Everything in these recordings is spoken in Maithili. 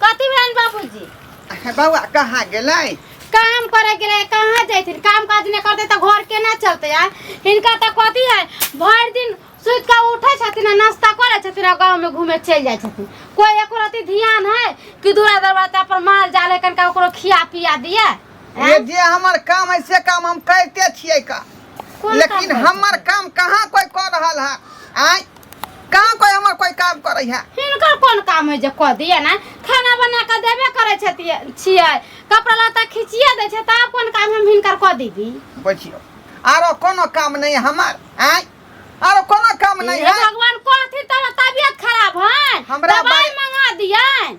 कथी भेल बाबूजी बौआ कहाँ गेलै काम करे के लिए कहाँ जैथिन काम काज नहीं करते तो घर केना चलते यार इनका तो कथी है भर दिन सुत के उठे छथिन आ नाश्ता करे छथिन आ गांव में घूमे चल जाए छथिन कोई एको रति ध्यान है कि दूरा दरवाजा पर माल जाल है कनका ओकरो खिया पिया दिए ये जे हमर काम है से काम हम करते छियै का कोन काम लेकिन करै हमर काम कहाँ कोई कर रहल है आय कहाँ कोई हमर कोई काम करे है हिनकर कोन काम है जे कह दिए ना खाना बना के देबे करे छथिए छिए कपड़ा लत्ता खिचिए दे छै तब कोन काम हम हिनकर कह दीबी बैठियो आरो कोनो काम नहीं है हमार आय आरो कोनो काम नहीं हे है भगवान कहथिन तब तबियत खराब है हमरा दवाई बारे- मंगा दिए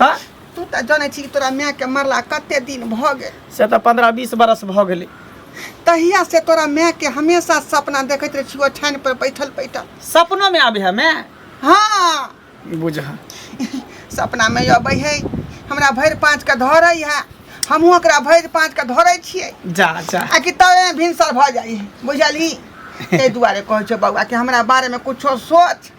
त तू तऽ जानै छी कि तोरा माय के मरला कते दिन भऽ गेल से तऽ पंद्रह बीस बरस भऽ गेलै तहिया से तोरा माय के हमेशा सपना देखैत रहै छी ओछानि पर बैठल बैठल सपनो में आबे है मैं हँ बुझ सपना में अबै है हमरा भरि पाँच के धरै है हमहूँ ओकरा भरि पाँच के धरै छियै जा जा आ कि तबे भिनसर भऽ जाइ है बुझली ताहि दुआरे कहै छौ बौआ कि हमरा बारेमे कुछो सोच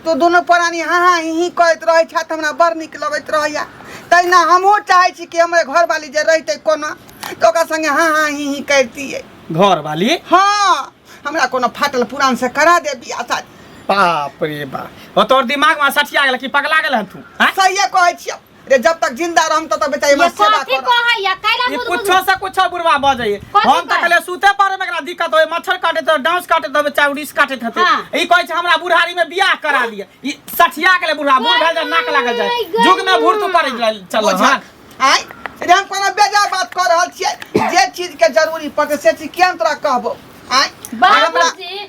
तो दोनों प्राणी हाँ हाँ ही ही करैत रहै छथि तो हमरा बड़ नीक लगैत रहैया तहिना हमहूँ चाहै छी कि हमर घरवाली जे रहितै कोना तऽ ओकरा संगे हाँ हाँ ही ही करितियै घर वाली हाँ हमरा कोनो फाटल पुरान से करा दे बियाह शादी बाप रे बाप ओ तोर दिमाग में सठिया गेल कि पगला गेल हन तू हैं? सहिए कहै छियै रे जब तक जिंदा रहम तब तक बेचारी ये हमर सेवा कथी कर कह है या कैला ई बुद बुद कुछो से कुछो बुढ़वा बजै कथी हम तऽ कहै? कहले सुते पड़े में एकरा दिक्कत होय मच्छर काटे तऽ डांस काटे तऽ बच्चा उड़ीस काटे हते हाँ। ई कहै छै हमरा बुढ़ारी में बियाह करा दिए ई सठिया गेले बुढ़वा बूढ़ भेल जाय नाक लागल जाय गई, गई। जुग में भूर तू पड़े चल बुझक आय रे हम कोनो बेजा बात कर रहल छियै जे चीज के जरूरी पड़तै से चीज किया हम तोरा कहबो आय बाबूजी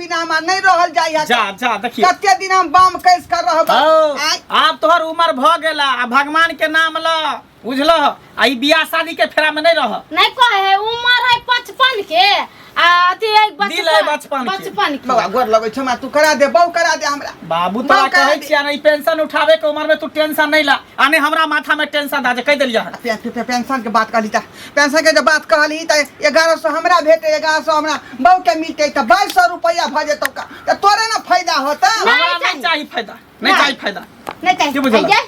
बिना हमरा नहीं रहल जाय है जा जा देखिए कते दिन हम बाम कैस कर रह हौ, आब तोहर उम्र भ गेला आ भगवान के नाम ल बुझलह आ ई बियाह शादी के फेरा में नहीं रह नहीं कहे है उम्र है पचपन के आ अथी है दिल है बचपन के। बचपन के बाबा गोर लगै छै हमरा तू करा दे बहु करा दे हमरा बाबू तोरा बाबू कहे कहे दे। छिया नहीं पेंशन उठावे के उम्र में तू टेंशन नहीं ला आने हमरा माथा में टेंशन दा जे कह देलिया हन पे- पे- पे- पेंशन के बात कहली ता पेंशन के जब बात कहली त 1100 हमरा भेटे 1100 हमरा बहू के मिलते त 2200 रुपया भ जेतो का त तोरे ना फायदा होता हमरा नहीं नहीं चाहिए फायदा नहीं चाहिए फायदा नहीं चाहिए के बुझल? अइजे,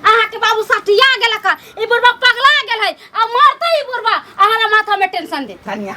अहाँ के बाबू सटिया गेल का ई बुढ़बा पगला गेल है आ मरते ई बुढ़बा अहाँ माथा में टेंशन दे धनिया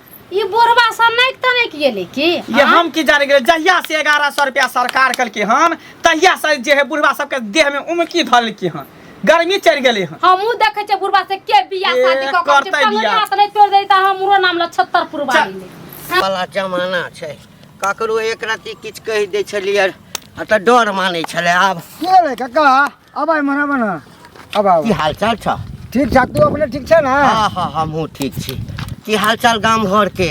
ई बोरबा सनैक तनैक गेलै की ये हम की जाने गेल जहिया से एगारह सौ रुपया सरकार कलके हन तहिया से जे है बुढ़वा सबके देह में उमकी धलके हन गर्मी चढ़ गेले हन हमहूँ देखै छियै बुढ़बा से के बियाह ए, शादी कऽ कऽ करतै पगड़ी बियाह। हाथ नहि तोड़ि दै तऽ हमरो नाम लऽ छत्तर पुरबारी ले वाला जमाना छै ककरो एक रत्ती किछु कहि दै छलियै आ तऽ डर मानै छलै आब के रे कका अब आइ मना मना अब आउ की हाल चाल छ ठीक ठाक तू अपने ठीक छै ना हाँ हाँ हमहूँ ठीक छी की हाल चाल गाम घर के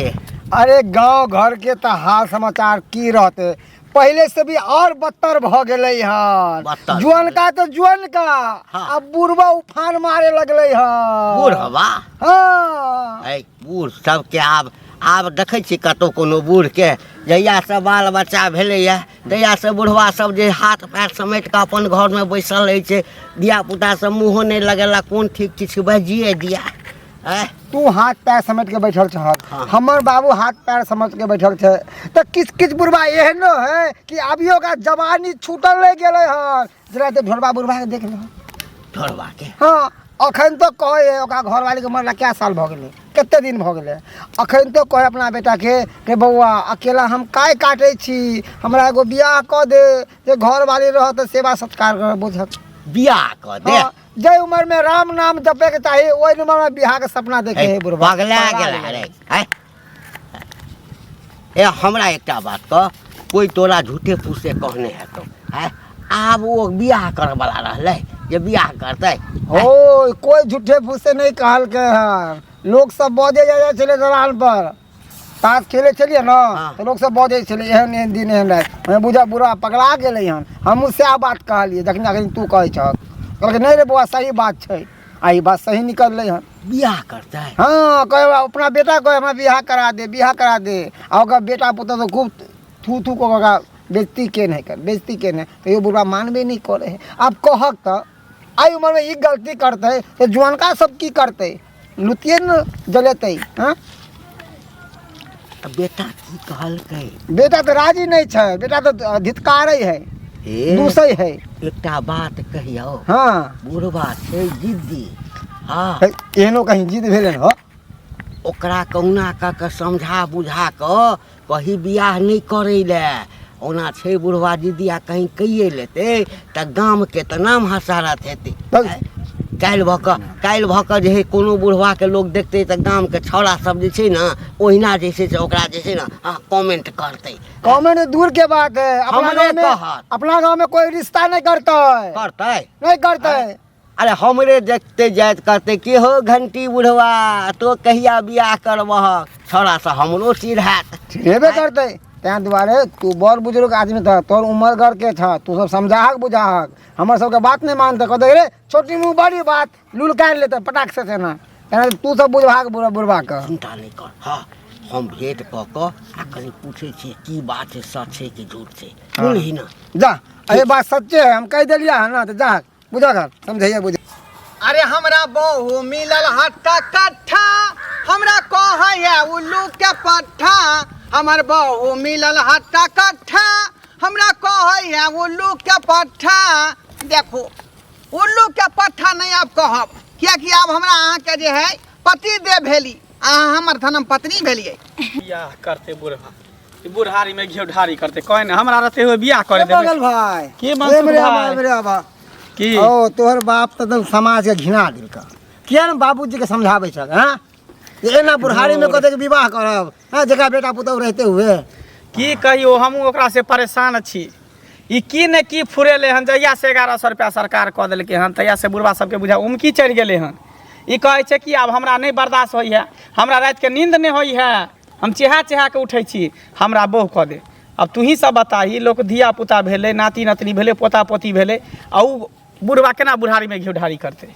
अरे गांव घर के त हाल समाचार की रहते पहले से भी और बदतर भ गेले हन बदतर जुअन का तो जुअन का हाँ। अब बुढ़वा उफान मारे लगले हन बूढ़ हवा हाँ ऐ बूढ़ सबके आब आब देखै छी कतौ कोनो बूढ़के जहियासँ बाल बच्चा भेलैए जहियासँ बुढ़वा सब जे हाथ पैर समेट कऽ अपन घरमे बैसल रहै छै धिया पुता सब मुँहो नहि लगेला कोन ठीक किछु बजिए दिया आँय तू हाथ पैर समझ के बैठल छह हाँ। हमर बाबू हाथ पैर समझ के बैठल छै तऽ किछ किछ बुढ़बा एहनो है कि अभियो का जवानी छूटल रह गेलै हन जरा ते ढोलबा बुढ़बा के देख ले ढोलबा के हाँ अखन तो कहे ओकरा घरवाली के मरला क्या साल भऽ गेलै कते दिन भऽ गेलै अखन तो कहे अपना बेटा के के बौआ अकेला हम काय काटे छी हमरा एगो बियाह कऽ दे जे घरवाली रह तऽ सेवा सत्कार कर बुझत बियाह कऽ दे हाँ, जै उम्र में राम नाम जपे के चाही ओहि उम्र में बियाह के सपना देखे है बुढ़बा पगला पगला गेला गेला। रे हैं? ए हमरा एकटा बात कह कोई तोरा झूठे फूसे कहने हेतौ हैं आब ओ बियाह करऽ वाला रहलै जे बियाह करतै ओ कोई झूठे फूसे नहीं कहलके हन लोग सब बजे जा जाए छले दलान पर ताश खेले छलिए ना हाँ। तो लोग सब बजे छले एहन एहन दिन एहन रात हमें बुझा बुरा पगला गेले हन हमहू सएह बात कहलिए जखन अखन तू कहै छह कहलकै नहीं रे बौआ सही बात छै आ ई बात सही निकललै हन बियाह करतै हाँ कहे बा, अपना बेटा कहे हमरा बियाह करा दे बियाह करा दे आ ओकर बेटा पुतौ तो खूब थू थू को ओकरा बेजती केन है कर बेजती केन है तो यो बुढ़वा मानबे नहीं करे है अब कहक तो आई उम्र में ई गलती करते तो जुअनका सब की करते लुतिए न जलेते हाँ आ बेटा की कहलकै बेटा तऽ राजी नहि छै बेटा तऽ धितकारै है हे दूसै है एकटा बात कहियौ हँ बुढ़बा छै जिद्दी हँ है, एहनो कहीं जिद भेलै हो ओकरा कहुना कऽ कऽ समझा बुझा कऽ कही बियाह नहि करै लए ओना छै बुढ़वा जिदिया कहीं कहिए लेतै तऽ गामके तऽ नाम हसारत हेतै तब काल्हि भऽ कऽ काल्हि भऽ कऽ जे है कोनो बुढ़वाके लोक देखतै तऽ गामके छौड़ा सब जे छै ने ओहिना जे छै से ओकरा जे छै ने अहाँ कमेंट करतै गाँवमे ने दूर के बात है अपना हमरे गाँवमे कहत। अपना गाँवमे कोई रिश्ता नहीं करता है करतै नहीं करता है अरे हमरे देखते जाइत कहते कि हो घंटी बुढ़वा तो कहिया बियाह करबह छौड़ा से हमरो सिर हैत हेबे करतै ताहि दुआरे तू बड़ बुजुर्ग आदमी छह तोहर उमर घर के छह तू सब समझाहक बुझाहक हमर सबके बात नहि मानतै कहतै रे छोटी मुँह बड़ी बात लुलकारि लेतै पटाक से तेना तेना तू सब बुझबाक बुढ़- बुढ़बाके चिंता नहीं कर हाँ हम भेंट कऽ कऽ आ कनि पूछै छियै की बात छै सच छै कि झूठ छै सुनही ना जा अरे बात सच्चे है हम कहि देलियै हँ ने तऽ जा बुझा घर समझैया बुझ अरे हमरा बहु मिलल हट्टा कट्ठा हमरा कहैया उल्लू के पट्ठा हमर बहु मिलल हट्टा कट्ठा हमरा कहैया उल्लू के पट्ठा देखो उल्लू के पट्ठा नहीं आप कहब कियाकि आब हमरा अहाँके जे है पति दे भेली अहाँ हमर धनम पत्नी भेलियै बियाह करते बुढ़ा ई बुढ़ारी में घेव ढारी करते कहे ने हमरा रहते हुए बियाह करे देबे बगल भाई के ए मंसूर मेरे आबा, भाई? मेरे आबा। की ओ तोहर बाप तऽ एकदम समाज के घिना देलक किया ने बाबूजी के समझाबै छक हाँ जे एना बुढ़ारी में कते के विवाह करब हाँ जेकरा बेटा पुतहु रहते हुए की कहियो हमहूँ ओकरा से परेशान छी ई की ने की फुरेले हन जहिया से एगारह सौ रुपया सरकार कह देलकै हन तहिया से बुढ़वा सबके बुझा उमकी चढ़ि गेलै हन ई कहै छै कि आब हमरा नहि बर्दाश्त होइ है हमरा रात के नींद नहि होइ है हम चेहा चेहा के उठै छी हमरा बोह कह दे अब तू ही सब बता ही लोग धिया पुता भेलै नाती नतनी भेलै पोता पोती भेलै आ ऊ बुढ़वा केना बुढ़ारी में घिउढारी करतै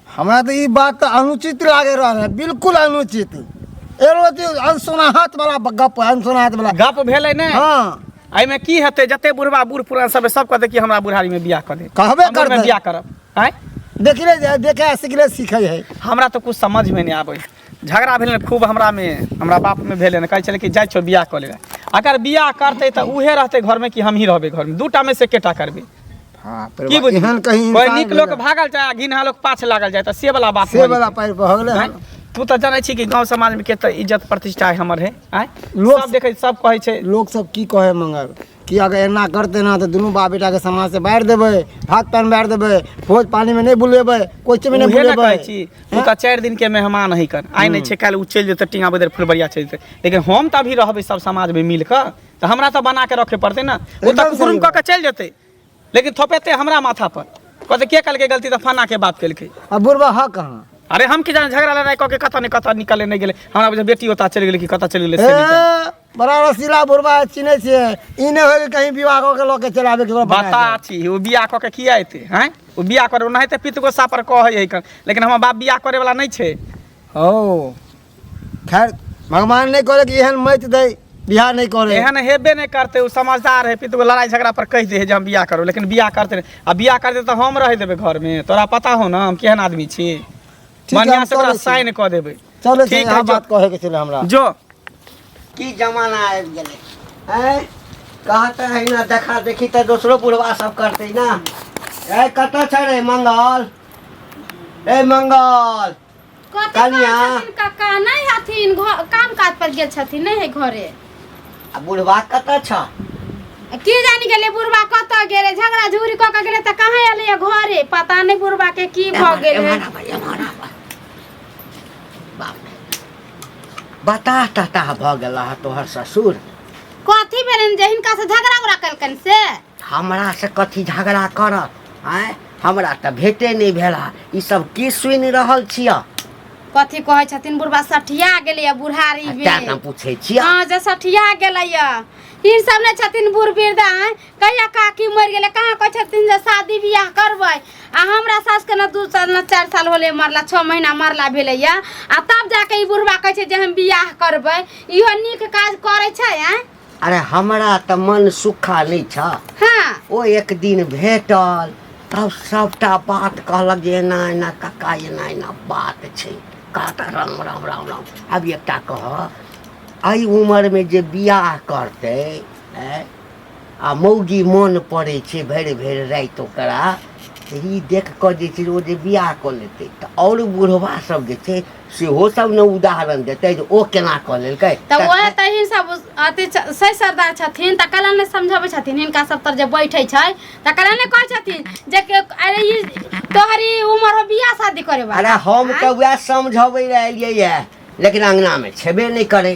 हमरा तऽ ई बात तऽ अनुचित लागे रहल है बिल्कुल अनुचित एगो जे अनसुनाहत वाला गप है अनसुनाहत वाला गप भेलै ने हाँ एहिमे की हेतै जते बुढ़वा बूढ़ पुरान सब सब कहतै कि हमरा बुढ़ारी में बियाह कर दे कहबे हमर करतै। में बियाह करब आय देखले जाए देखे सीखले सीखे है हमरा तो कुछ समझ में नहीं आबै झगड़ा भेल ने खूब हमरा में हमरा बाप में भेल ने कहै छलै कि जाइ छौ बियाह कऽ ले अगर बियाह करतै तऽ उहे रहतै घर में कि हमही रहबै घर में दूटा में से केटा करबै हाँ की परिवार बुझलियै? एहन कहीं कोइ इंसान नीक लोक भेलै। भागल जाय आ घिनहा लोक पाछ लागल जाय तऽ से वाला बात से भऽ वाला पारि भऽ गेलै हन जेतै। तू तऽ जानै छी कि गांव समाज में केते इज्जत प्रतिष्ठा है हमर है आय लोक- सब देखै सब कहै छै लोक सब की कहे मंगल कि अगर एना करते ना तो दुनू बाप बेटा के समाज से बाहर देबे भात पान बाहर देबे भोज पानी में नहीं बुलेबे कोचे में नहीं उहे ने बुलेबे कहै छी तू तऽ चारि दिन के मेहमान है कर आइ नहि छै काल्हि उ चलि जेतै टिंगा बदर फुलबरिया चलि जेतै लेकिन हम तऽ अभी रहबै सब समाज में मिल कऽ तऽ हमरा तऽ बना के रखे पड़तै ने ओ तऽ एकदम सही कुकुरुम कऽ के चलि जेतै लेकिन थोपेते हमरा माथा पर कहते के कल के गलती तो फना के बाप कल के अब बुढ़वा हा कहाँ अरे हम की जान झगड़ा लड़ाई कह के कत नहीं कत निकले नहीं गेले हमरा बुझे बेटी होता चल गेले कि कत चल गेले से नहीं जाने। ए, बड़ा रसीला बुढ़वा है, चिन्है छियै ई नहि होइ कि कहीं विवाह कऽ के लऽ के चलि आबे ककरो बता बता छी ओ बियाह कऽ के किया एते हैं ओ बियाह करे ओनाहिते पित गोसा पर कहै है कन लेकिन हमर बाप बियाह करे वाला नहीं छे ओ खैर भगवान नहीं करे कि एहन मत दे बियाह नहीं करे एहन हेबे नहीं करते उ समझदार है पितु लड़ाई झगड़ा पर कह दे है जे हम बियाह करो लेकिन बियाह करते नहीं आ बियाह करते तो हम रह देबे घर में तोरा पता हो ना हम केहन आदमी छी है, हम बढ़िया से चलै ओकरा छी। साइन कऽ देबे चलो ठीक ठीक है, है जो। बात कहे के छले हमरा जो की जमाना आबि गेलै आँय कहते है ना देखा देखी तऽ दोसरो बुढ़वा सब करतै ना ए कतऽ छै रे मंगल ए मंगल कथी कनिया। कहै छथिन काका नहि हथिन घ- काम काज पर गेल छथिन नहि है घरे आ बुढ़वा कतऽ छ की जानी गेलै बुढ़बा कतऽ गेलै झगड़ा झूरी कऽ के गेलै तऽ कहाँ एलै है घरे पता नहि बुढ़बा के की भऽ एम्हर- गेलै एम्हर आबह, एम्हर आबह। बाप रे। बताह तताह भऽ गेला तोहर ससुर कथी भेलनि जे हिनका से झगड़ा उगड़ा केलकनि से हमरा से कथी झगड़ा करत आय हमरा तऽ भेटे नहि भेला ई सब की सुनि रहल छियै कथी कहै छथिन बुढ़बा सठिया गेलैया बुढ़ारी तें तऽ बे पूछै छियै हँ जे सठिया गेलैया ई सब ने छथिन बूढ़ वृद्धा आँय। कहिया काकी मरि गेलै कहाँ कहै छथिन जे शादी बियाह करबै आ हमरा सासके ने दू साल ने चारि साल होलै मरला छओ महीना मरला भेलैया आ तब जाके ई बुढ़बा कहै छै जे हम बियाह करबै इहो नीक काज करै छै आँय अरे हमरा तऽ मन सुखा नहि छ हाँ ओ एक दिन भेटल तब सबटा बात कहलक जे एना एना काका एना एना बात छै कहता राम राम राम राम आब एकटा कह एहि उमरमे जे बियाह करतै ऐ, आ मौगी मोन पड़ै छै भरि भरि राति ओकरा तऽ ई देख कऽ जे छै ओ जे बियाह कऽ लेतै तऽ आओर बुढ़वा सब जे छै सेहो सब ने उदाहरण देतै जे ओ केना कऽ लेलकै तऽ ओहे तऽ ही सब अथी छ- सही सरदार छथिन तऽ कला ने समझबै छथिन हिनका सब तर जे बैठे छै तऽ कला ने कहै छथिन जे के- अरे ई तोहरी उम्र हो बियाह शादी करे अरे वाला हम तऽ वएह समझबै लए एलियै यऽ लेकिन अङ्गनामे छेबे नहि करै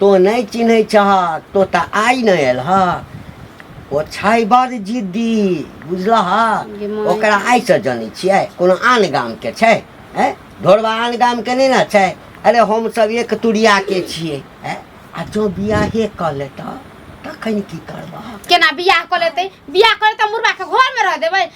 तोँ नहि चिन्है छह तो तऽ आइ नहि आयल ह ओ छै बड़ जिद्दी बुझलह गे माय। ओकरा आइसँ जनै छियै कोनो आन गामके छै हैं ढोरबा आन गामके नहि ने छै अरे हमसभ एक तुरियाके छियै हैं आ जँ बियाहे कऽ लेतह तखन की करबह केना बियाह कऽ लेतै बियाह कऽ लेतै मुर्गा के घर मे रह देबै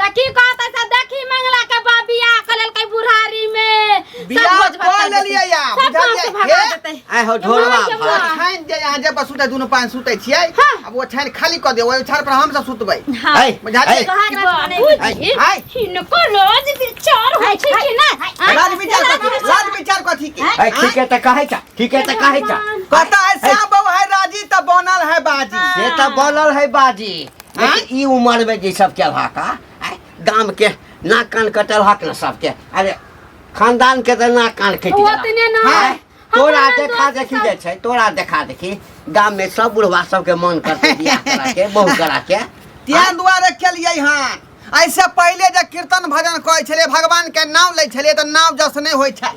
त की कहत ऐसा देखी मंगला के बा बियाह क लेलकै बुढ़ारी में सब बियाह भोज भात कऽ कर देतै। लेलियै या, सब गाँव बुझलियै? से भगा हे? देतै आय हो ढोलवा ये माँ, भात छाइन जे यहाँ जे पर सुते दुनू पान सुते छियै हाँ। अब वो छाइन खाली कर दे ओहि छाड़ पर हम सब सुतबै हाँ। ऐ, बुझलियै? ऐ, कहाँ रख बने? बाबूजी आय। इनको रोज विचार होइ छै कि ना राज विचार कथी राज विचार कथी के ऐ, ठीके त कहै छ ठीके त कहै छ कहता है श्याम बाबू है राजी त बनल है बाजी से त बोलल है बाजी लेकिन ई उम्र में जे सब केलहा का आय, गाम के नाक कान कटल हक न सबके अरे खानदान के तऽ नाक कान कटि ओ तऽ नहि ने। गेल आय, तोरा हमरा देखा दोस्त देखी सब- जाइ छै तोरा देखा देखी गाम में सब बुढ़वा सबके मन करतै बियाह करा के बहु करा के ताहि दुआरे केलियै हन ऐसे पहिले जे कीर्तन भजन करै छलै भगवान के नाम लै छलै तऽ नाम जस नहि होइ छल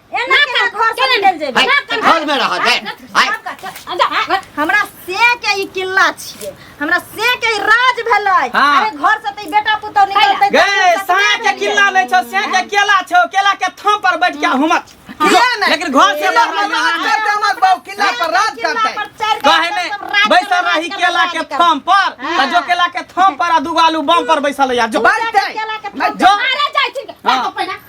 एना के घर से निकल जेबे हाय, सब कर- घर में रह दे हाय सब कर- चल, अंदर, हाँ, बस। हमरा से के ई किल्ला छिए हमरा से के ई राज भेलै हाँ। अरे घर से ते बेटा पुतौ निकलतै गे साया के किल्ला नहीं छो साया के केला छो केला के थम पर बैठ के हुमत लेकिन घर से बाहर ना आना। हमर बाबू किला पर राज करतै कहे ने बैसल रही केला के थम पर त जो केला के थम पर आ दूगो आलू बम पर बैसल या जो बैठतै जो अरे जाय छिन के हाँ। तो पहिना